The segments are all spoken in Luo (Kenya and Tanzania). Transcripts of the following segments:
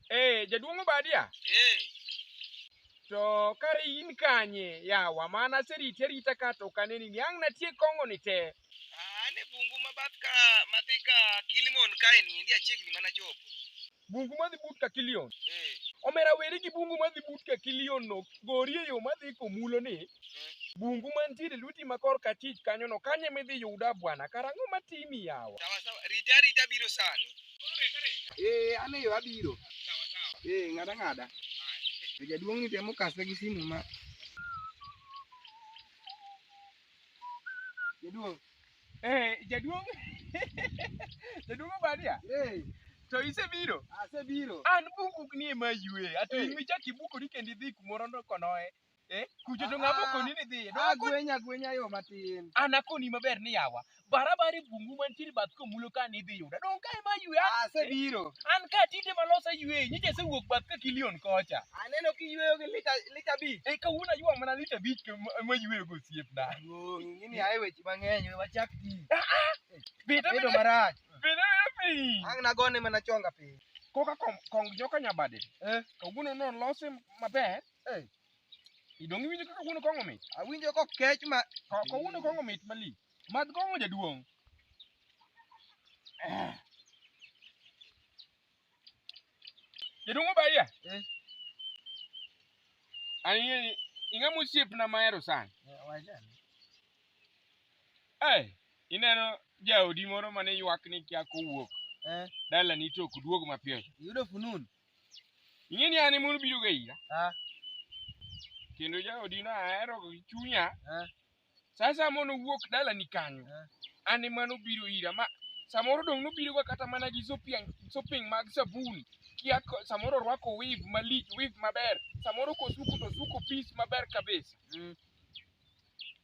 Eh, jaduong' Obadia. Eh. To kare in kanye yawa mana serite rita ka to kaneni ni ang' natie kong'o ni te. An e bungu ma bath ka madhi ka Kilimon kae ni endi achiegni mana chopo. Bungu madhi but ka Kilion. Eh. Omera weri gi bungu madhi but ka Kilion no gori e yo madhi komulo ni. Bungu mantiere lweti ma kor kachich kanyo no kanye midhi yuda bwana karang'o matimi yawa. Sawa sawa rita rita biro sani. Eh an e yo abiro. Sawa sawa. Eh ng'ada ng'ada. Jaduong' ni temo kase gi simu ma Jaduong'. Eh, jaduong'. jaduong' Obadia. Eh. To isebiro? Asebiro. An bukuk ni ema yue. Ato eh. imichak ibukori kendo idhi kumoro ndo konoe. Eh, kucho to ng'ama ah, okoni ni dhiye. Agwenya agwenya yo matin. An akoni maber ni yawa. barabara e bungu mantiere bath komulo ka ni idhi yuda donge kae ma ywe an- asebiro an ka tinde malos ayweyi nyicha asewuok bath ka kilion kocha aneno kiyweyo gi lita lita abich e kawuono aywa mana lita abich to ma- mayweyo go osiepna Duong', ing'eni ae weche mang'eny we wachak ji beta bedo beta marach beta piny ang' nagone mana chonga piny koka kom- kong joka nyabade Eh. kawuono nolose maber Eh. idong iwinjo kaka kawuono kong'o mit awinjo kokech ma Ka- kawuono kong'o mit malich Madh kong'o jaduong'. Eh. Jaduong' Obadia. Eh. Ani ing'ama osiepna mahero sana. Eh, wachani. Eh, ineno jaodi moro mane ywak ni kia kowuok Eh, dalani to ok duog mapiyo. iyudo fununu? Ing'e ni an ema obiro ga ira. Ah, Kendo jaodi no ahero gi chunya. ah, Sa asaya mono wuok dalani kanyo, an ema nobiro ira. Ma samoro dong' nobiroga kata mana gi sopiang- sopeng mag sabun, kia ko- samoro orwako weave malich, weave maber. Samoro kosuko to osuko pis maber kabisa. Mm.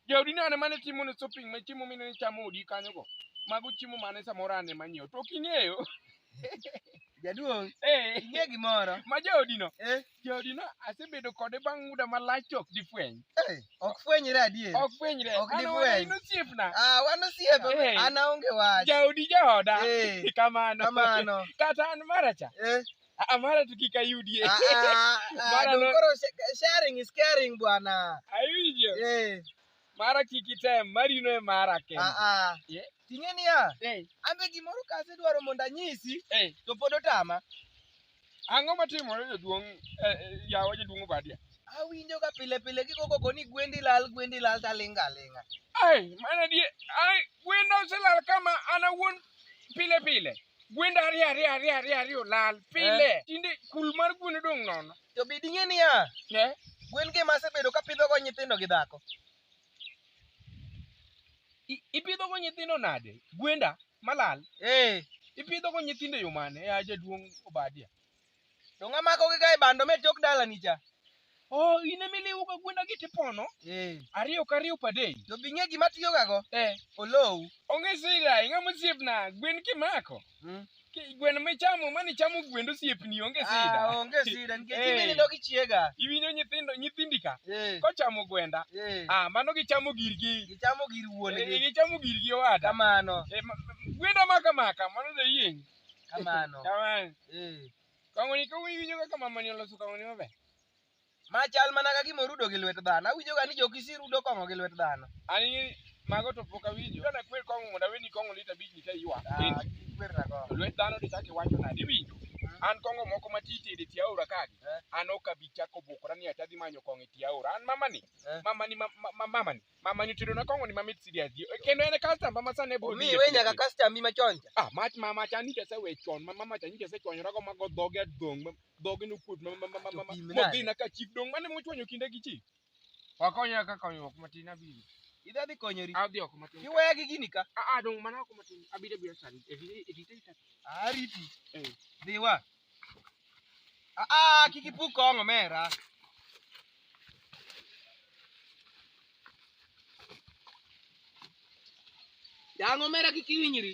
Jaodi nane mane timo ne shopping ma chiemo mine ni chamo odi kanyo go. Mago chiemo mane samoro ane manyiewo. To ok ing'eyo. Jaduong', Eh, ing'e gimoro? ma jaodi no. Eh, jaodino asebedo kode bang' muda malach to ok difweny Eh, ok fwenyre adier ok fwenyre Ok An difweny. owada in osiepna Ah, wan osiepe Eh. an aonge wach jaodi jaoda Eh. kamano kamano kata an maracha Eh, Ah, mara to kik ayudie ah, ah, ah, Mara dong no- koro sh- sharing is caring bwana awinjo Eh, mara kik item marino e mara kende ah, ah. Eh. ting'e niya Eh, an be gimoro kasedwaro mondo anyisi eh, to pod otama Ang'o matimore jaduong' eh, eh, yawa jaduong' Obadia? Awinjo ka pile pile gigo koko ni gwendi lal gwendi lal talinga alinga. Ai, mana die, ai, gwenda oselal kama an awuon pile pile. Gwenda ariyo ariyo ariyo ariyo ariyo lal pile. Tinde kul mar gwen odong' nono. To be ding'e niya, Ne? gwen gi masebedo ka pidhogo nyithindo gi dhako. I- ipidho go nyithindo nade gwenda malal Eh, ipidho go nyithindo e yo mane ya jaduong' obadia to ng'ama kogi ka e bando me tok dalani cha. oh in ema iliwo ga gwenda gi tipono Eh, ariyo ka ariyo per day to bing'e gima tiyogago, eh olowu. onge sida ing'ama osiepna gwen kimako Mm. Ki- Gweno michamo mane ichamo gwend osiepni onge Ah, sida. onge sida nikech Eh. imini dog ichiega. Iwinjo nyithindo nyithindi ka Eh, kochamo gwenda. eh. Ah, mano gichamo girgi. Gichamo gir Eh, wuongi. Gichamo girgi owada. Kamano, Eh, ma- ma- Gwenda maka maka mano da yieng. kamano. Kamano. Eh. Kangoni kawinjo kaka mamani oloso kangoni maber. Ma chal mana ka gima orudo gi lwet dhano. Awinjoga ni jokisi rudo kong'o gi lwet dhano. An ing'e ni mago to pok awinjo. Ka nakwer kong'o mondo aweni kong'o lita abich ni ka iywa. Ah, kikwer na kong'o. Lwet dhano to ichako iwacho nade iwinjo? An kong'o moko ma titi e tie aora kagi. Eh. An ok abi chako bukora ni ati adhi manyo kong'o e tie aora. An mamani, Eh. mamani, ma- ma- ma- mamani. Mama ni tedo na kong'o ni mamit sidi adhi. Kendo en customer ma sane bro. Mi we nyaka customer mi machon cha. Ah, mach mama cha ni tese we chon. Mama mama cha ni tese chon rago mago dhoge adong. Dhoge no kut mama mama mama. Chopim nade? Modhi na ka chief dong mane mochwanyo kinde gi chief. Wakonya ka konyruok matin abiro. Idha dhi konyori. Adhi oko matin. Iweya gi gini ka. Ah ah dong mana oko matin. Abiro abiro sani. Edite edite. Ariti. Eh. Dhiwa. Ah, ah, kik ipuk kong omera. Yang omera kik iwinyri.